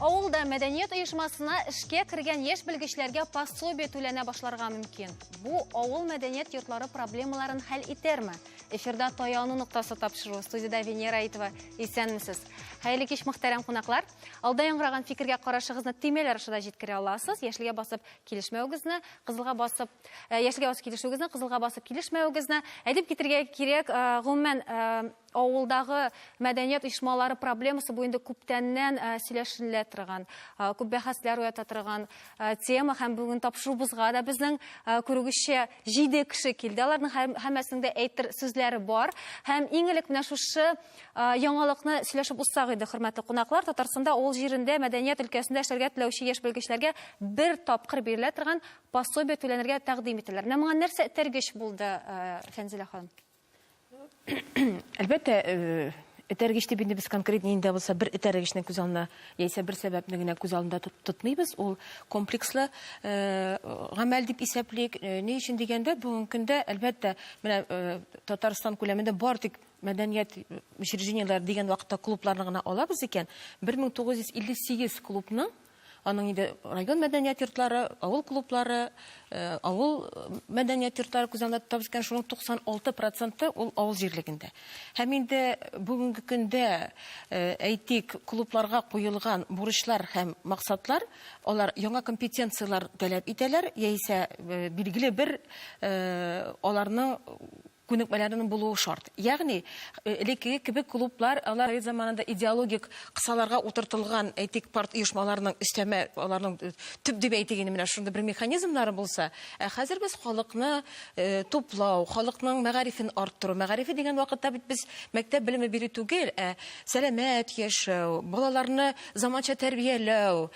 Авылда мәдәният оешмасына эшкә кергән яшь белгечләргә пособие түләнә башларга мөмкин. Бу авыл мәдәният йортлары проблемаларын хәл итерме? Эфирда таяну ноктасы тапшыру студиядә Венера Итова. Исәнмесез. Хәерле кич, мөхтәрәм кунаклар. Алда яңгыраган фикергә карашыгызны төймәләр аша да җиткерә аласыз. Яшелгә басып килешмәвегезне, кызылга басып, э, яшелгә басып килешүегезне, кызылга басып килешмәвегезне әйтеп китергә кирәк. Э, гомумән, э, авылдагы мәдәният оешмалары проблемасы бу инде күптәннән сөйләшенелә торган, күп бәхәсләр уята торган тема һәм бүген тапшыруыбызга да безнең күрүгезчә 7 кеше килде. Аларның һәммәсенең дә әйтер сүзләре бар. Һәм иң элек менә шушы Яңалыкны сөйләшеп узсак иде, хөрмәтле кунаклар, Татарстанда авыл җирендә мәдәният өлкәсендә эшләргә теләүче яшь белгечләргә бер тапкыр бирелә торган пособие түләнергә тәкъдим ителәр. Менә моңа нәрсә этәргеч булды, Фәнзилә ханым? Әлбәттә, этәргеч дип инде без конкрет нинди дә булса бер этәргечне күз алдына яисә бер сәбәпне генә күз алдында тотмыйбыз. Ул комплекслы гамәл дип исәплик. Ни өчен дигәндә, бүгенге көндә, әлбәттә, менә Татарстан күләмендә бар тик мәдәният учреждениеләре дигән вакытта клубларны гына алабыз икән, 1958 клубның, аның инде район мәдәният йортлары, авыл клублары, э, авыл мәдәният йортлары күз алдында тотабыз икән, шуның 96 проценты ул авыл җирлегендә. Һәм инде бүгенге көндә, э, әйтик, клубларга куелган бурычлар һәм максатлар, алар яңа компетенцияләр таләп итәләр, яисә э, билгеле бер э, аларның күнекмәләренең булуы шарт. Ягъни, элеккеге кебек клублар, алар совет заманында идеологик кысаларга утыртылган, әйтик, парт оешмаларының өстәмә, аларның төп дип әйтик инде, менә шундый бер механизмнары булса, ә хәзер без халыкны туплау, халыкның мәгарифен арттыру, мәгарифе дигән вакытта бит без мәктәп белеме бирү түгел, ә сәламәт яшәү, балаларны заманча тәрбияләү,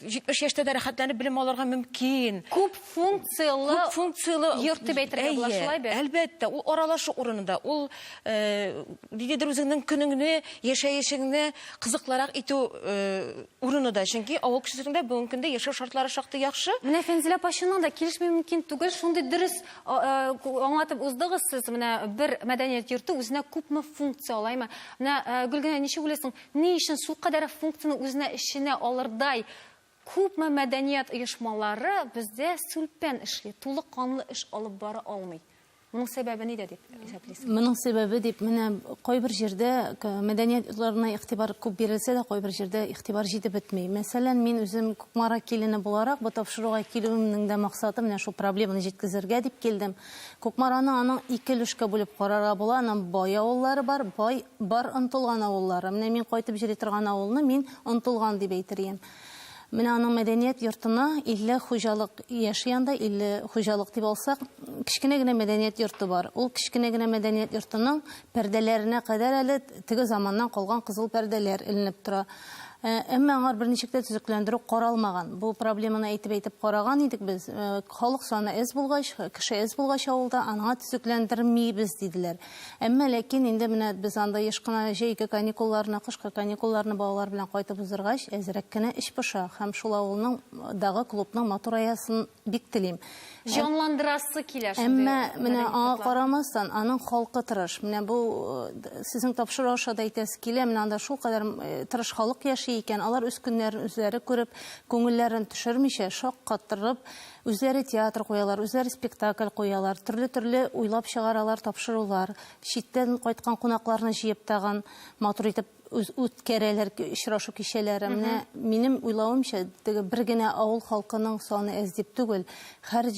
70 яшьтә дә рәхәтләнеп белем алырга мөмкин. Күп функцияле, күп функцияле йорт дип әйтергә була шулай бит. Әлбәттә, ул аралашу урынында, ул э, нидедер үзеңнең көнеңне, яшәешеңне кызыклырак итү э, урыны да. Чөнки авыл кешесендә бүгенге көндә яшәү шартлары шактый яхшы. Менә Фәнзилә апачының да килешми мөмкин түгел. Шундый дөрес аңлатып уздыгыз сез. Менә бер мәдәният йорты үзенә күпме функция алаймы? Менә Гөлгенә ничек уйлыйсың? Ни өчен су кадәр функцияне үзенә эченә алырдай күпме мәдәният оешмалары бездә сүлпән эшли, тулы канлы эш алып бара алмый? Моның сәбәбе нидә дип исәплисез? Моның сәбәбе дип менә кайбер җирдә мәдәният йортларына игътибар күп бирелсә дә, кайбер җирдә игътибар җитеп бетми. Мәсәлән, мин үзем Кукмара килене буларак, бу тапшыруга килүемнең дә максаты менә шул проблеманы җиткезергә дип килдем. Кукмараны аның ике өлешкә бүлеп карарга була, аның бай авыллары бар, бай, бар ынтылган авыллары. Менә мин кайтып җыри торган авылны мин ынтылган дип әйтер идем. Менә аның мәдәният йортына 50 хуҗалык яши анда, 50 хуҗалык дип алсак, кечкенә генә мәдәният йорты бар. Ул кечкенә генә мәдәният йортының пәрдәләренә кадәр әле теге заманнан калган кызыл пәрдәләр эленеп тора. Ә, әмма аңар берничек тә төзекләндерү каралмаган. Бу проблеманы әйтеп-әйтеп караган идек без. Ә, халык саны әз булгач, кеше әз булгач авылда, анаңа төзекләндермибез, диделәр. Әмма ләкин инде менә без анда еш кына җәйге каникулларны, кышкы каникулларны балалар белән кайтып уздыргач, әзрәк кенә эч поша һәм шул авылның дагы клубның матур аясын Бик телим. Җанландырасы килә шундый. Әмма менә аңа карамастан, аның халкы тырыш. Менә бу э, сезнең тапшыру аша да әйтәсе килә, менә анда шулкадәр э, тырыш халык яши икән, алар үз көннәрен үзләре күреп, күңелләрен төшермичә, шаккатырып, үзләре театр куялар, үзләре спектакль куялар, төрле-төрле уйлап чыгаралар тапшырулар, читтән кайткан кунакларны җыеп тагын матур итеп үткәрәләр очрашу кичәләре. Менә минем уйлавымча, теге бер генә авыл халкының саны әз дип түгел, һәр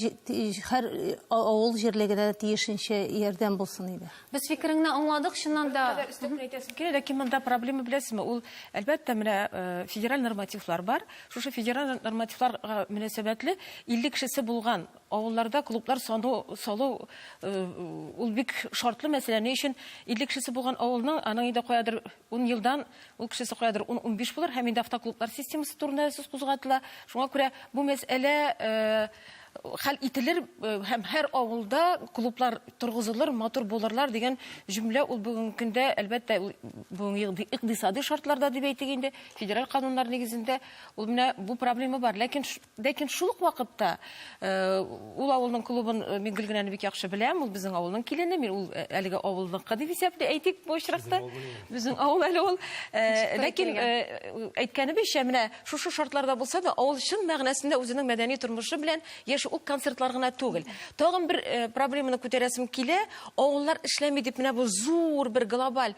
һәр э, авыл җирлегенә тиешенчә ярдәм булсын иде. Без фикереңне аңладык, чыннан да. Өстәп әйтәсем килә, ләкин монда проблема беләсезме? Ул әлбәттә менә э, федераль нормативлар бар. Шушы федераль нормативларга мөнәсәбәтле 50 кешесе булган Авылларда клублар саны салу ул бик шартлы мәсьәлә. Ни өчен? 50 кешесе булган авылның, аның инде каядыр ун елдан ул кешесе каядыр ун-унбиш булыр һәм инде автоклублар системасы турында сүз кузгатыла. Шуңа күрә бу мәсьәлә хәл ителер һәм һәр авылда клублар торгызылыр, матур булырлар дигән җөмлә ул бүгенге көндә, әлбәттә, ул бүгенге икъдисади шартларда дип әйтик инде, федераль кануннар нигезендә ул менә бу проблема бар. Ләкин Ләкин шул ук вакытта ул авылның клубын мин Гөлгенәне бик яхшы беләм, ул безнең авылның килене, мин ул әлеге авылныкы дип исәпли, әйтик, бу очракта. Безнең авыл әле ул. Ләкин әйткәнебезчә, менә шушы шартларда булса да, авыл чын мәгънәсендә үзенең мәдәни тормышы белән яши, ул концертлар гына түгел. Тагын бер проблеманы күтәрәсем килә, авыллар эшләми дип, менә бу зур бер глобаль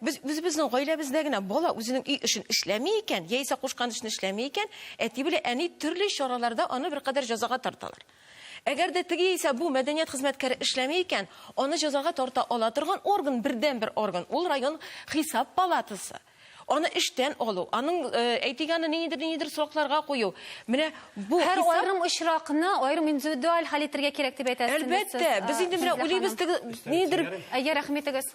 Без үзебезнең гаиләбездә генә бала үзенең өй эшен эшләми икән, яисә кушкан эшне эшләми икән, әти белән әни төрле чараларда аны беркадәр җәзага тарталар. Әгәр дә теге яисә бу мәдәният хезмәткәре эшләми икән, аны җәзага тарта ала торган орган, бердәнбер орган, ул район Хисап палатасы. Аны эштән алу, аның, әйтик, аны ниндидер-ниндидер срокларга кую, менә бу Һәр хисап... аерым очракны аерым индивидуаль хәл итәргә кирәк дип әйтәсезме сез? Әлбәттә, без инде менә уйлыйбыз, теге ниндидер... Әйе, рәхим итегез.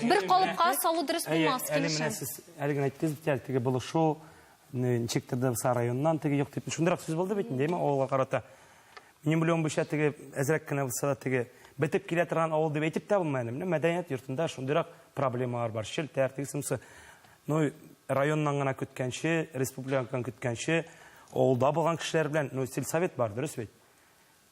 Бер калыпка салу дөрес булмас, Әле менә килешәм. сез әле генә әйттегез бит әле, теге булышу, не- ничектер дә булса районнан теге юк дип. Шундыйрак сүз булды бит, димме, авылга карата. Минем белүем буенча теге әзрәк кенә булса да теге бетеп килә торган авыл дип әйтеп тә булмый әле. Менә мәдәният йортында шундыйрак проблемалар бар. Челтәр, тегесе монысы. Ну, районнан гына көткәнче, республикадан көткәнче, авылда булган кешеләр белән, ну, сельсовет бар, дөрес бит?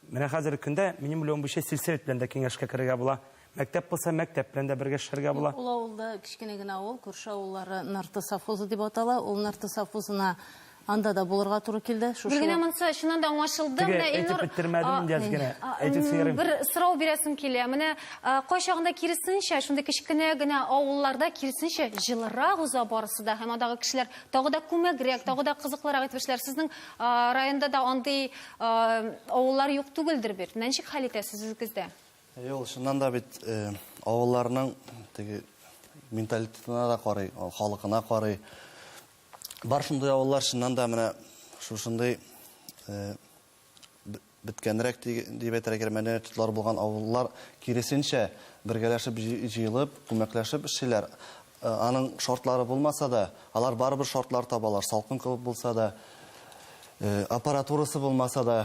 Менә хәзерге көндә, минем уйлавым буенча, сельсовет белән дә киңәшкә керергә була. Мәктәп булса, мәктәп белән дә бергә эшләргә була. Юк, ул авылда кечкенә генә авыл, күрше авыллары Нырты совхозы дип атала. Ул Нырты совхозына анда да булырга туры килде. Шушы Гөлгенә, вак- монысы чыннан да аңлашылды. Теге, Менә әйтеп Илнур бетермәдем а, инде, Әзгенә. а, Әйтеп м, сөярим. бер сорау бирәсем килә. Менә а, кайчагында киресенчә, шундый кечкенә генә авылларда киресенчә җылырак уза барысы да һәм андагы кешеләр тагы да күмәгрәк, тагы да кызыклырак итеп эшләр. Сезнең а, районда да андый Авыллар юк түгелдер бит. Ничек хәл итәсез үзегездә? Әйе, ул чыннан да бит э, авылларның теге менталитетына да карый, халыкына карый. Бар шундый авыллар чыннан да менә шушындый э, беткәнрәк дип әйтергә мәдәният йортлары булган авыллар киресенчә бергәләшеп җыелып, күмәкләшеп эшлиләр. Аның шортлары булмаса да, алар барыбер шортлар табалар, салкын кебек булса да, аппаратурасы булмаса да,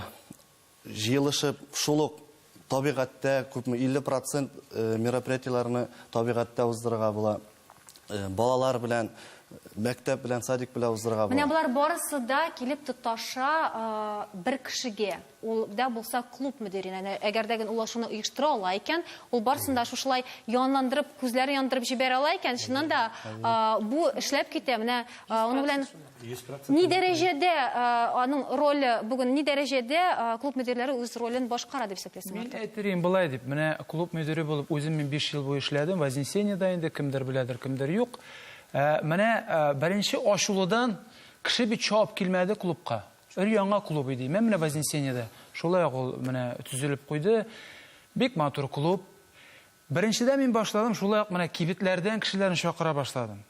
җыелышып, шул ук табигатьтә күпме 50 процент мероприятиеләрне табигатьтә уздырырга була. Балалар белән, мәктәп белән, садик белән уздырырга була. Менә болар барысы да килеп тоташа бер кешегә. Ул дә булса клуб мөдиренә. Әгәр дә ул шуны оештыра ала икән, ул барсын да шушылай янландырып, күзләрен яндырып җибәрә ала икән, чыннан да бу эшләп китә. Менә аның белән ни дәрәҗәдә аның роле бүген, ни дәрәҗәдә клуб мөдирләре үз ролен башкара дип исәплисең, Артур? Мин әйтер идем болай дип, менә клуб мөдире булып үзем мин биш ел буе эшләдем, Вознесениедә инде, кемдер беләдер, кемдер юк. Менә беренче ачулыдан кеше бит чабып килмәде клубка. Өр-яңа клуб иде. Имән менә Вознесениедә шулай ук ул менә төзелеп куйды. Бик матур клуб. Беренчедә мин башладым, шулай ук менә кибетләрдән кешеләрне чакыра башладым.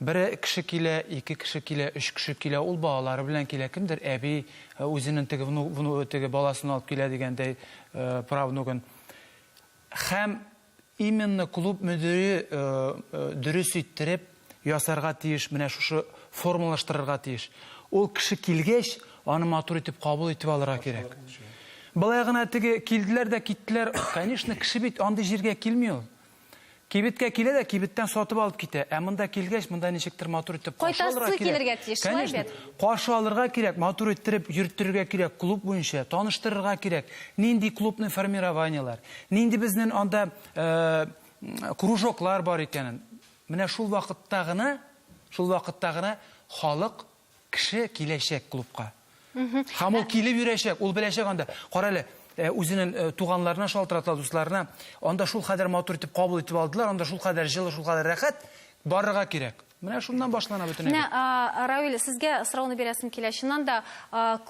Бер кеше килә, ике кеше килә, өч кеше килә, ул балалары белән килә, кемдер әби э, үзенең теге вну, вну, теге баласын алып килә дигәндәй э, правнугын. Һәм Именно клуб мөдире дөрес иттереп ясарга тиеш, менә шушы формалаштырырга тиеш. Ул кеше килгәч, аны матур итеп кабул итеп алырга кирәк. Болай гына теге килделәр дә киттеләр, конечно, кеше бит андый җиргә килми ул. Кибеткә килә дә кибеттән сатып алып китә, ә монда килгәч, монда ничектер матур итеп каршы алырга кирәк. Кайтасы килергә тиеш, шулай бит? Каршы алырга кирәк, матур иттереп йөрттерергә кирәк, клуб буенча таныштырырга кирәк, нинди клубный формированиеләр, Нинди безнен анда кружоклар бар икәнен. Менә шул вакытта гына, шул вакытта гына халык, кеше киләчәк клубка. Һәм ул килеп йөрәчәк, ул беләчәк анда. Кара әле, Э, үзенең э, туганларына шалтырата дусларына анда шул кадәр матур итеп кабул итеп алдылар анда шул кадәр җылы шул кадәр рәхәт барырга кирәк Менә шуннан башлана бөтен әйбер. Менә Равил, сезгә сорауны бирәсем килә. Чыннан да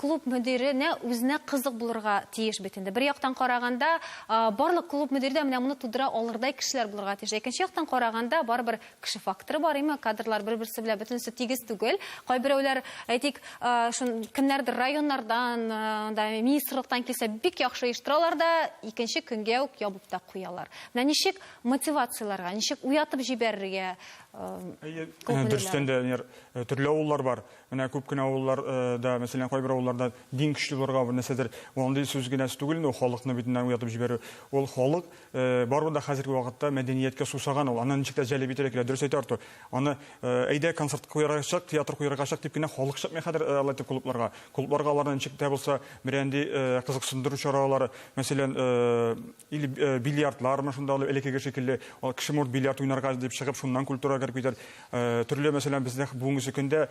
клуб мөдиренә үзенә кызык булырга тиеш бит инде. Бер яктан караганда, барлык клуб мөдире дә менә моны тудыра алырдай кешеләр булырга тиеш. Икенче яктан караганда, барыбер кеше факторы бар, әйме, кадрлар бер-берсе белән бөтенесе тигез түгел. Кайберәүләр, әйтик, шун кемнәрдер районнардан, да министрлыктан килсә, бик яхшы оештыралар да, икенче көнгә үк ябып та куялар. Менә ничек мотивацияләргә, ничек уятып җибәрергә, Әйе, дөрестән дә, Венер, э, төрле авыллар бар. Менә күп кенә авыллар э, да, мәсәлән, кайбер авылларда дин көчле булырга бер нәрсәдер. Ул андый сүз генә түгел инде, ул халыкны бит менә уятып җибәрү. Ул халык э, барыбер дә хәзерге вакытта мәдәнияткә сусаган ул. Аны ничек тә җәлеп итәргә кирәк, дөрес әйтә Артур. Аны э, әйдә концерт куярга чык, театр куярга чык дип кенә халык чыкмый хәзер э, алай итеп клубларга. Клубларга аларны ничек тә булса берәнди э, кызыксындыру чаралары, мәсәлән, э, Или бильярдлар мы шунда элекеге шикелле, кеше может бильярд уйнарга дип чыгып, шуннан культура кереп китәр. Төрле, мәсәлән, бездә бүгенге көндә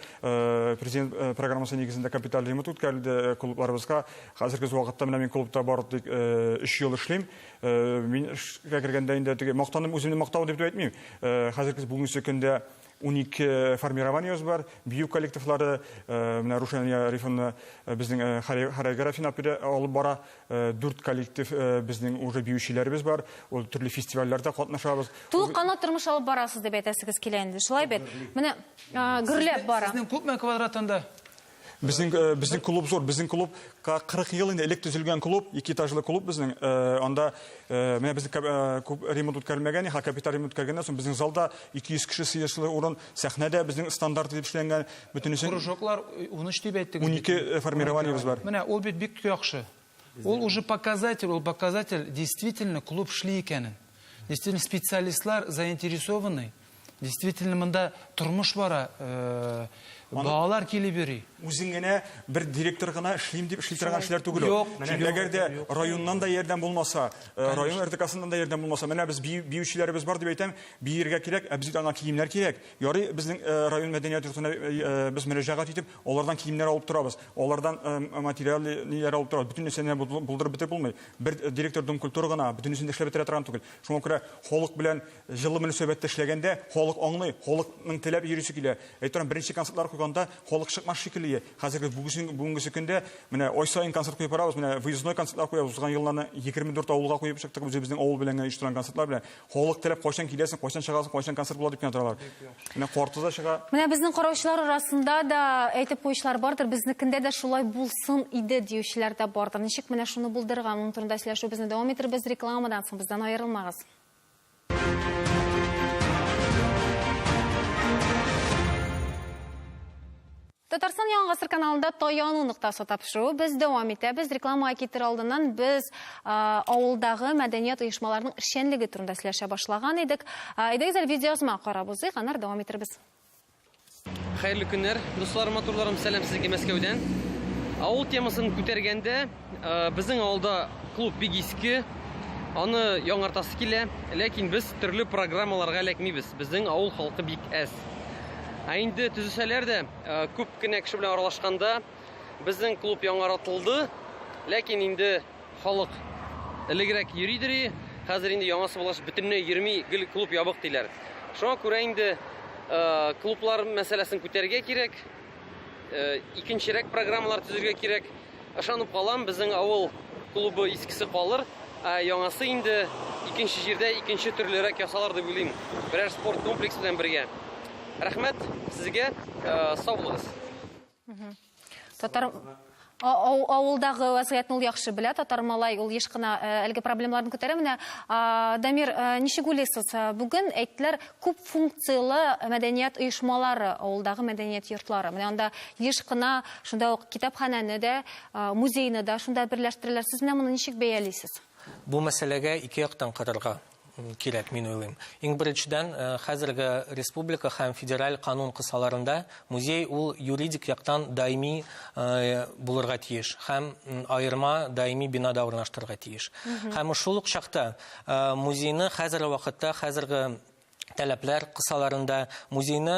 президент программасы нигезендә капиталь ремонт үткәрелде клубларыбызга. Хәзерге вакытта менә мин клубта бары тик 3 ел эшлим. Мин эшкә кергәндә инде теге мактаным үземне мактау дип әйтмим. Хәзерге бүгенге көндә Унике формированиебез бар, бию коллективлары, менә Рушания Рифовна безнең хореографияне алып бара, дүрт коллектив безнең уже биючеләребез бар, ул төрле фестивальләрдә катнашабыз. Тулыкканлы тормыш алып барасыз дип әйтәсегез килә инде, шулай бит? Менә гөрләп бара. Сезнең күпме квадрат анда? Безнең э, безнең клуб зур, безнең клуб 40 ел инде элек төзелгән клуб, ике этажлы клуб безнең. Э, анда э, менә безнең күп ремонт үткәрелмәгән, ха капиталь ремонт үткәргәннән соң безнең залда 200 кеше сыешлы урын, сәхнәдә безнең стандарт дип эшләнгән, бөтенесе. Кружоклар 13 дип әйттегез. 12 формированиебез бар. Менә ул бит бик яхшы. Ул уже показатель, ул показатель действительно клуб шли икәнен. Действительно специалистлар заинтересованный. Действительно монда тормыш бара, э, балалар килеп йөри. Үзең генә бер директор гына эшлим дип эшли торган эшләр түгел. ул. Юк, Чөнки юк, әгәр дә юк. районнан да ярдәм булмаса, э, район РДКсыннан да ярдәм булмаса, менә без бию- биючеләребез бар дип әйтәм, биергә кирәк, ә безгә ана киемнәр кирәк. Ярый, безнең э, район мәдәният йортына э, э, без мөрәҗәгать итеп, Алардан киемнәр алып торабыз, алардан материал ниләр алып торабыз. Бөтен нәрсәне булдырып бетереп булмый. Бер директор Дом культуры гына бөтенесен дә эшләп бетерә торган түгел. Шуңа күрә халык белән җылы мөнәсәбәттә эшләгәндә, халык аңлый, халыкның теләп йөрисе килә. Әйтәм, беренче концертлар куйганда халык чыкмас шикелле. Хәзерге бүгенге көндә менә ай саен концерт куеп барабыз. Менә выездной концертлар куябыз. Узган елларны 24 авылга куеп чыктык. Үзебезнең авыл белән генә оештырган концертлар белән. Халык теләп кайчан киләсең, кайчан чыгасың, кайчан концерт була дип кенә торалар. Менә корты да чыга. Менә безнең караучылар арасында да әйтеп куючылар бардыр, безнекендә дә шулай булсын иде диючеләр дә бардыр. Ничек менә шуны булдырырга, моның турында сөйләшүебезне дәвам итербез рекламадан соң, бездән аерылмагыз. Татарстан Яңа гасыр каналында таяну ноктасы тапшыруы без дәвам итәбез. Рекламага китер алдыннан без авылдагы мәдәният оешмаларының эшчәнлеге турында сөйләшә башлаган идек. Әйдәгез әле видеоязма карап узыйк, аннары дәвам итәрбез. Хәерле көннәр, дусларым, матурларым, сәлам сезгә Мәскәүдән. Авыл темасын күтәргәндә, Безнең авылда клуб бик иске, аны яңартасы килә, ләкин без төрле программаларга эләкмибез. Безнең авыл халкы бик әз. Ә инде төзесәләр дә, күп кенә кеше белән аралашканда, безнең клуб яңаратылды, ләкин инде халык элегрәк йөридери, хәзер инде яңасы булгач бөтенләй йөрми, гел клуб ябык диләр. Шуңа күрә инде клублар мәсьәләсен күтәрергә кирәк, икенчерәк программалар төзергә кирәк. Ышанып калам, безнең авыл клубы искесе калыр, ә яңасы инде икенче җирдә икенче төрлерәк ясалар дип уйлыйм. Берәр спорт комплекс белән бергә. Рәхмәт сезгә, э, сау булыгыз. Татар авылдагы вазгыятьне ул яхшы белә, татар малай ул еш кына э, әлеге проблемаларны күтәрә. Менә Дамир, э, ничек уйлыйсыз, э, бүген әйттеләр, күп функцияле мәдәният оешмалары, авылдагы мәдәният йортлары. Менә анда еш кына Шунда ук китапханәне дә, музейны да шунда берләштерәләр. Сез менә моны ничек бәялисез? Бу мәсьәләгә ике яктан карарга кирәк, мин уйлыйм. Иң беренчедән, э, хәзерге республика һәм федераль канун кысаларында музей ул юридик яктан даими э, булырга тиеш һәм аерма даими бинада урнаштырырга тиеш. Һәм шул ук чакта э, музейны хәзерге вакытта хәзерге таләпләр кысаларында музейны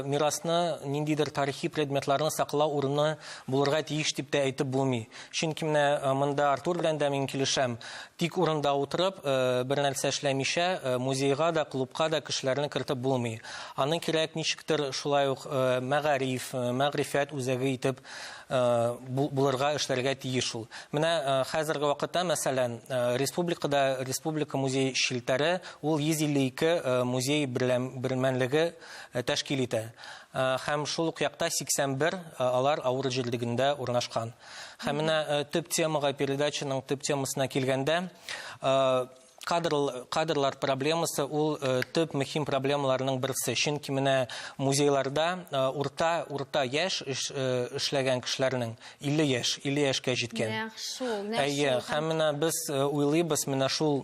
мирасны ниндидер тарихи предметларны саклау урыны булырга тиеш дип тә әйтеп булмый чөнки менә монда артур белән дә мин килешәм тик урында утырып бер нәрсә эшләмичә музейга да клубка да кешеләрне кертеп булмый аны кирәк ничектер шулай ук мәгариф мәгрифәт үзәге итеп булырга, эшләргә тиеш ул. Менә хәзерге вакытта, мәсәлән, республикада республика музей челтәре ул 152 музей бермәлеге тәшкил итә. Һәм шул ук якта 81 алар авыр җирлегендә урнашкан. Һәм менә төп темага, передачаның төп темасына килгәндә, Кадр, кадрлар проблемасы ул э, төп мөһим проблемаларның берсе. Чөнки менә музейларда э, урта урта яшь эш, э, эшләгән кешеләрнең 50 яшь, 50 яшькә җиткән. Нәкъ шул, нәкъ Әйе, шул. һәм менә без э, уйлыйбыз менә шул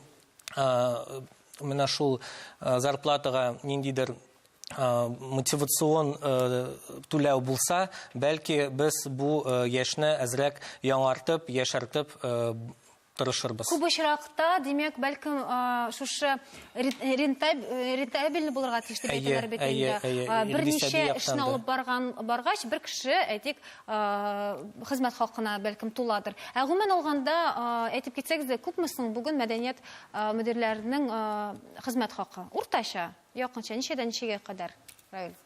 э, менә шул э, зарплатага ниндидер э, мотивацион э, түләү булса, бәлки без бу э, яшьне әзрәк яңартып, яшәртеп э, тырышырбыз. Күп очракта, димәк, бәлкем, шушы рентабельный булырга тиеш дип әйтәләр бит инде. Берничә эшне алып баргач, бер кеше, әйтик, хезмәт хакына бәлкем туладыр. Ә гомумән алганда, әйтеп китсәгез дә, күпме соң бүген мәдәният мөдирләренең хезмәт хакы? Уртача, якынча, ничәдән ничәгә кадәр, Раил?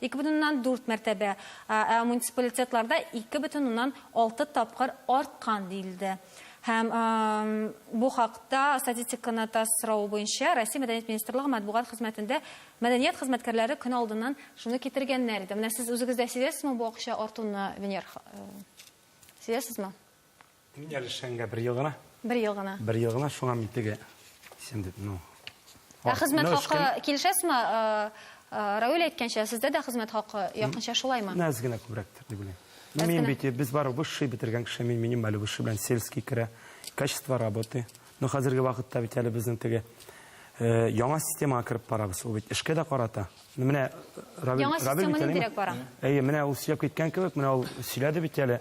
Ике бөтен уннан дүрт мәртәбә, ә муниципалитетларда ике бөтен уннан алты тапкыр арткан, диелде. Һәм бу хакта статистиканы ТАСС соравы буенча Россия Мәдәният министрлыгы матбугат хезмәтендә мәдәният хезмәткәрләре көн алдыннан шуны китергәннәр иде. Менә сез үзегез дә сизәсезме бу акча артуны, Венер? Сизәсезме? Мин әле эшләнгә бер ел гына. Бер ел гына. Бер ел гына, шуңа мин теге дисәм дип, ну. Ә хезмәт хакы килешәсезме? Равил әйткәнчә, сездә дә хезмәт хакы якынча шулаймы? Нәз генә күбрәктер дип уйлыйм. Мин бит без бар высший бетергән кеше, мин минималь высший белән сельский керә. Качество работы, Ну хәзерге вакытта бит әле безнең теге яңа системага кереп барабыз. Ул бит эшкә дә карата. Ну менә Равил Яңа система нидирәк бара? Әйе, менә ул сөйләп киткән кебек, менә ул сөйләде бит әле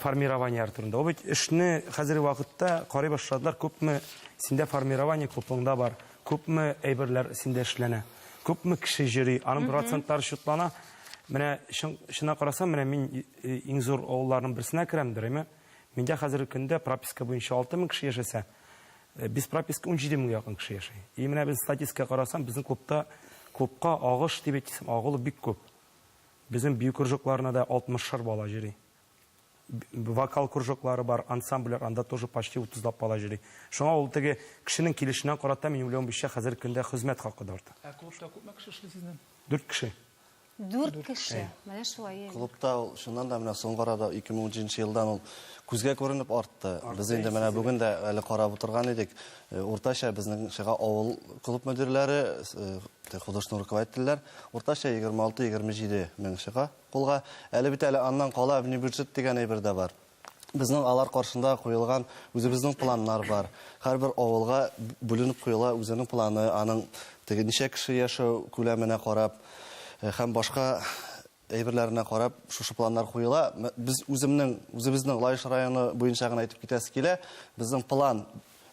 формирование турында. Ул бит эшне хәзерге вакытта карый башладылар, күпме синдә формирование купоңда бар, күпме әйберләр синдә эшләнә, күпме кеше йөри, аның процентлары счетлана. Менә чын, чына карасам, менә мин иң зур авылларның берсенә керәм, дөрәйме? Миндә хәзерге көндә прописка буенча 6 мең кеше яшәсә, без прописка 17 меңгә якын кеше яши. И менә без статистика карасам, безнең клубта клубка агыш дип әйтсәм, агылу бик күп. Безнең бию кружокларына да 60 шар бала җыри. Вокал кружоклары бар, ансамблер, анда тоже почти 30 лап бала җыри. Шуңа ул теге кешенең килешенә карата мин уйлавымча хәзерге көндә хезмәт хакы да арта. Ә клубта күпме кеше эшли сезнең? Дүрт кеше. Дүрт кеше. Менә шулай. Клубта ул шуннан да менә соңгы арада 2013 елдан ул күзгә күренеп артты. Без инде менә бүген дә әле карап утырган идек. Уртача безнең шыга авыл клуб мөдирләре, художественный руководительләр уртача 26-27 мең шыга кулга. Әле бит әле аннан кала внебюджет дигән әйбер дә бар. Безнең алар каршында куелган үзебезнең планнар бар. Һәрбер авылга бүленеп куела үзенең планы, аның теге ничә кеше яшәү күләменә карап һәм башка әйберләренә карап шушы планнар куела. Без үземнең үзебезнең Лаеш районы буенча гына әйтеп китәсе килә. Безнең план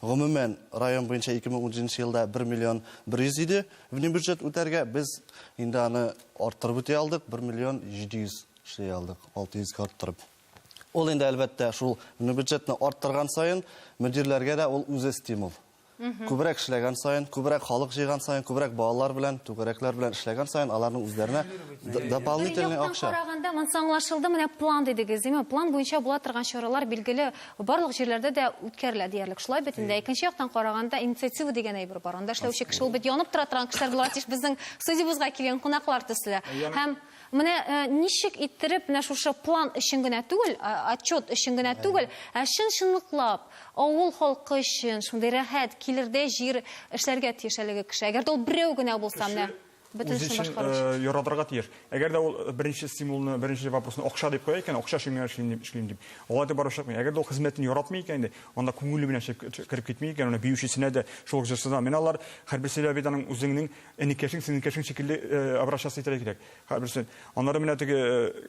гомумән район буенча 2017 елда 1 миллион 100 иде внебюджет үтәргә. Без инде аны арттырып үти алдык, 1 миллион 700 эшли алдык, 600 га арттырып. Ул инде, әлбәттә, шул бюджетны арттырган саен, мөдирләргә дә ул үзе стимул. Күбрәк эшләгән саен, күбрәк халык җыйган саен, күбрәк балалар белән, түгәрәкләр белән эшләгән саен, аларның үзләренә дополнительный акча. Караганда, монысы аңлашылды, менә план дидегез, димме? План буенча була торган чаралар билгеле барлык җирләрдә дә үткәрелә диярлек. Шулай бит инде. Икенче яктан караганда, инициатива дигән әйбер бар. Анда эшләүче кеше, ул бит янып тора торган кешеләр буларга тиеш, безнең студиябезгә килгән кунаклар төсле. Һәм Менә ничек иттереп менә шушы план өчен генә түгел, отчет өчен генә түгел, ә чын-чынлыклап авыл халкы өчен шундый рәхәт, килердәй җир эшләргә тиеш әлеге кеше. Әгәр дә ул берәү генә булса, менә бөтен эшне башкарыр өчен. Үзе өчен яратырга тиеш. Әгәр дә ул беренче стимулны, беренче вопросны акча дип куя икән, акча өчен генә эшлим дип, эшлим дип. Алай итеп барып чыкмый. Әгәр дә ул хезмәтен яратмый икән инде, анда күңеле белән кереп китми икән, аны биючесенә дә, шул ук җырчысына. Менә алар һәрберсе дә бит аның үзеңнең Энекәшең, сеңелкәшең шикелле обращаться итәргә кирәк. Хәберсен. Аннары менә теге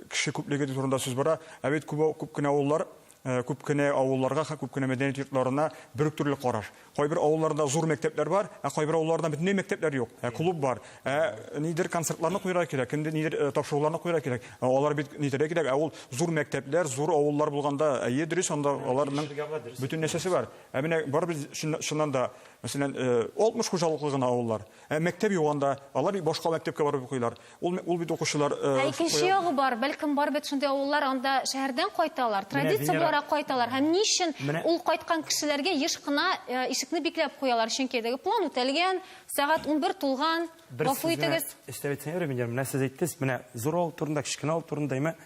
кеше күплеге турында сүз бара. Ә бит күп күп кенә авыллар, күп кенә авылларга һәм күп кенә мәдәният йортларына бер үк төрле караш. Кайбер авылларда зур мәктәпләр бар, ә кайбер авылларда бөтенләй мәктәпләр юк. Ә клуб бар. Ә нидер концертларны куярга кирәк, инде нидер тапшыруларны куярга кирәк. Алар бит нитәргә кирәк, ә ул зур мәктәпләр, зур авыллар булганда, әйе, дөрес, анда аларның бөтен нәрсәсе бар. Ә менә барыбер чыннан да Мәсәлән, 60 хуҗалыклы гына авыллар. Ә мәктәп юк анда, алар башка мәктәпкә барып укыйлар. Ул, ул бит укучылар... Ә икенче ягы бар, бәлкем бар бит шундый авыллар, анда шәһәрдән кайталар, традиция буларак кайталар. Һәм ни өчен ул кайткан кешеләргә еш кына ишекне бикләп куялар, чөнки теге план үтәлгән, сәгать унбер тулган, гафу итегез. Бер сүз генә өстәп әйтсәм, менә сез әйттегез, менә зур авыл турында, кечкенә авыл турында, әмма...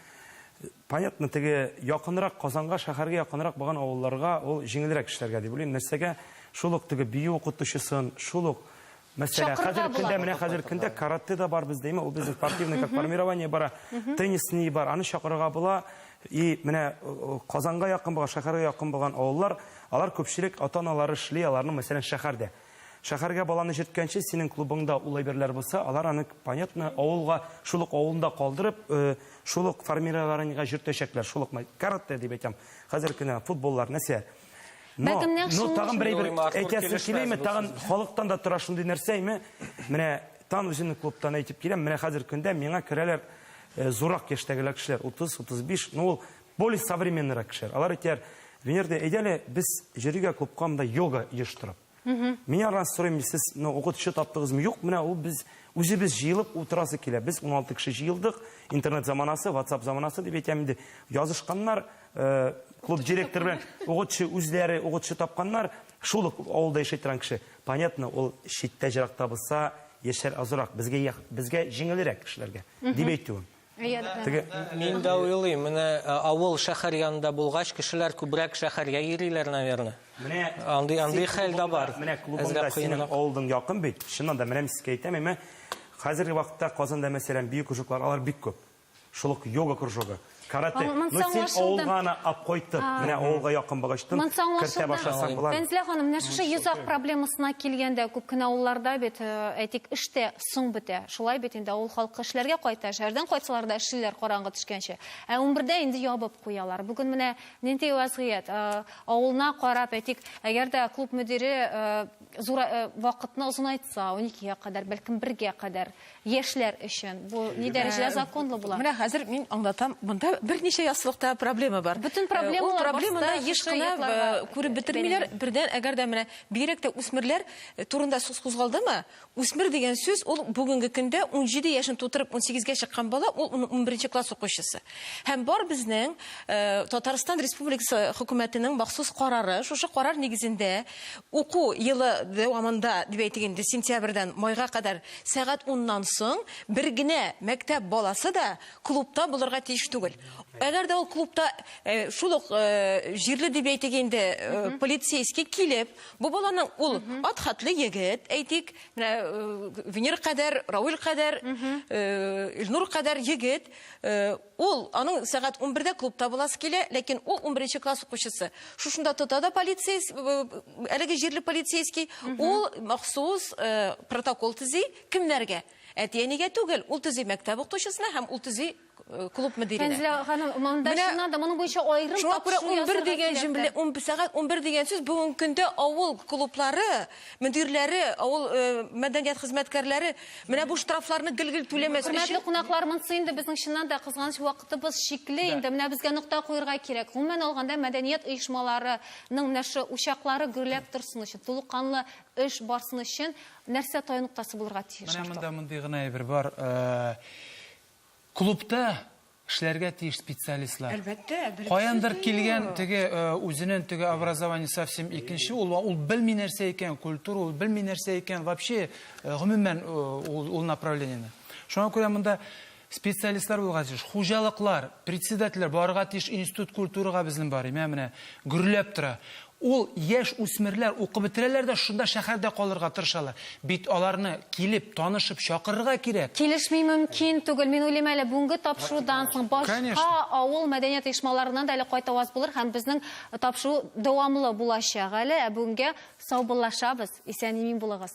Понятно, теге якынрак Казанга, шәһәргә якынрак булган авылларга ул җиңелрәк эшләргә дип уйлыйм. Нәрсәгә? Шул ук теге бию укытучысын, шул ук, мәсьәлә, хәзерге көндә, менә хәзерге көндә каратэ да бар бездә, ул безнең спортивный как формирование бара, теннисный бар, аны чакырырга була. И менә Казанга якын булган, шәһәргә якын булган авыллар, алар күпчелек ата-аналары эшли, аларның, мәсәлән, шәһәрдә. Шәхәргә баланы җирткәнче синең клубыңда ул әйберләр булса, алар аны, понятно, авылга, шул ук авылында калдырып, э, шул ук формированиегә җиртәчәкләр, шул ук май- каратэ дип әйтәм, хәзер кенә футболлар, нәрсә. Но, Бәлкем нәкъ но шуның тагын өчен. бер әйбер Юрий Мартов әйтәсем килешмәс киләме, бу тагын сүз. халыктан да тора шундый нәрсә име? Менә тан үземнең клубтан әйтеп киләм, менә хәзер көндә миңа керәләр э, зуррак яшьтәгеләр кешеләр, 30, 35, ну ул Более современныйрак кешеләр. Алар әйтәр, Венера, әйдә әле без җөригә клубка монда йога оештырып. Мин арнасы сорыйм, сез ну, укытучы таптыгызмы? Юк, менә ул без үзебез җыелып утырасы килә. Без 16 кеше җыелдык, интернет заманасы, WhatsApp заманасы дип әйтәм инде. Язышканнар, э, клуб директор белән укытучы үзләре укытучы тапканнар. Шул ук авылда яши торган кеше. Понятно, ул читтә җыракта булса, яшьләр азрак, безгә як- безгә җиңелрәк кешеләргә, дип әйтүем. Теге Мин дә уйлыйм, менә э, авыл шәһәр янында булгач, кешеләр күбрәк шәһәргә йөриләр, наверное. Менә Андый- андый син хәл дә клубыңда- бар. Менә клубыңда Әзрәк синең кыенрак. авылдың якын бит. Чыннан да, менә мин сезгә әйтәм, әмма хәзерге вакытта Казанда, мәсәлән, бию кружоклары, алар бик күп. Шул ук йога кружогы, карате. Аңа- монсы Ну, син аңлашылды. авылга ана ап кайтып, менә авылга якын багычтын Монсы кертә аңлашылды. башласаң болар. Фәнзилә ханым, менә шушы йозак проблемасына килгәндә, күп кенә авылларда бит, э, әйтик, эштә Соң бетә. Шулай бит инде, авыл халкы эшләргә кайта, шәһәрдән кайтсалар да эшлиләр караңгы төшкәнче. Ә унбердә инде ябып куялар. Бүген менә нинди вәзгыять. Авылына карап, әйтик, әгәр дә клуб мөдире зур вакытны озынайтса, уникегә кадәр, бәлкем бергә кадәр, яшьләр өчен, бу ни дәрәҗәдә законлы була? Менә хәзер мин аңлатам. Монда берничә яссылыкта проблема бар. Бөтен проблемалар башта шушы ятларга. Ул проблеманы еш кына күреп бетермиләр. Бердән, әгәр дә менә бигрәк тә үсмерләр турында сүз кузгалдымы, Үсмер дигән сүз ул бүгенге көндә унҗиде яшен тутырып унсигезгә чыккан бала, ул унберенче класс укучысы. Һәм бар безнең Татарстан Республикасы хөкүмәтенең махсус карары, шушы карар нигезендә уку елы дәвамында, дип әйтик инде, сентябрьдән майга кадәр сәгать уннан соң бер генә мәктәп баласы да клубта булырга тиеш түгел. Әгәр дә ул клубта шул ук җирле, дип әйтик инде, полицейский килеп, Бу баланың ул ат хатлы егет, әйтик, менә Венер кадәр, Рауль кадәр, Илнур кадәр егет. Ул аның сәгать 11-дә клубта буласы килә, ләкин ул 11 класс укучысы. Шушында тота да полицейс, әлеге җирле полицейский, ул махсус протокол төзи кемнәргә? Әти-әнигә түгел, ул төзи мәктәп укытучысына һәм ул төзи клуб мөдирине. Фәнзилә ханым, монда чыннан да моның буенча аерым Шуңа күрә 11 дигән җөмлә, 11 сәгать 11 дигән сүз бүгенге көндә авыл клублары мөдирләре, авыл э, мәдәният хезмәткәрләре менә бу штрафларны гел-гел түләмәс өчен. Хөрмәтле кунаклар, монысы инде безнең чыннан да кызганыч вакытыбыз чикле инде. Менә безгә нокта куярга кирәк. Гомумән алганда мәдәният оешмаларының менә шу учаклары гөрләп торсын өчен, тулыканлы эш барсын өчен нәрсә таяныктасы булырга тиеш? Менә монда мондый гына әйбер бар. Э, Клубта эшләргә тиеш специалистлар. Әлбәттә, белгесез Каяндыр дә килгән юк. теге э, үзенең теге образование совсем икенче, ул ул белми нәрсә икән, культура ул белми нәрсә икән, вообще э, гомумән э, ул, ул направлениене. Шуңа күрә монда специалистлар булырга тиеш, хуҗалыклар, председательләр барырга тиеш институт культурага безнең бар, менә менә гөрләп тора. Ул яшь үсмерләр укып бетерәләр дә шунда шәһәрдә калырга тырышалар. Бит аларны килеп, танышып, чакырырга кирәк. Килешми мөмкин түгел. Мин уйлыйм әле, бүгенге тапшырудан соң башка авыл мәдәният оешмаларыннан да әле кайту аз булыр һәм безнең тапшыру дәвамлы булачак әле. Ә бүгенгә саубуллашабыз, исән-имин булыгыз.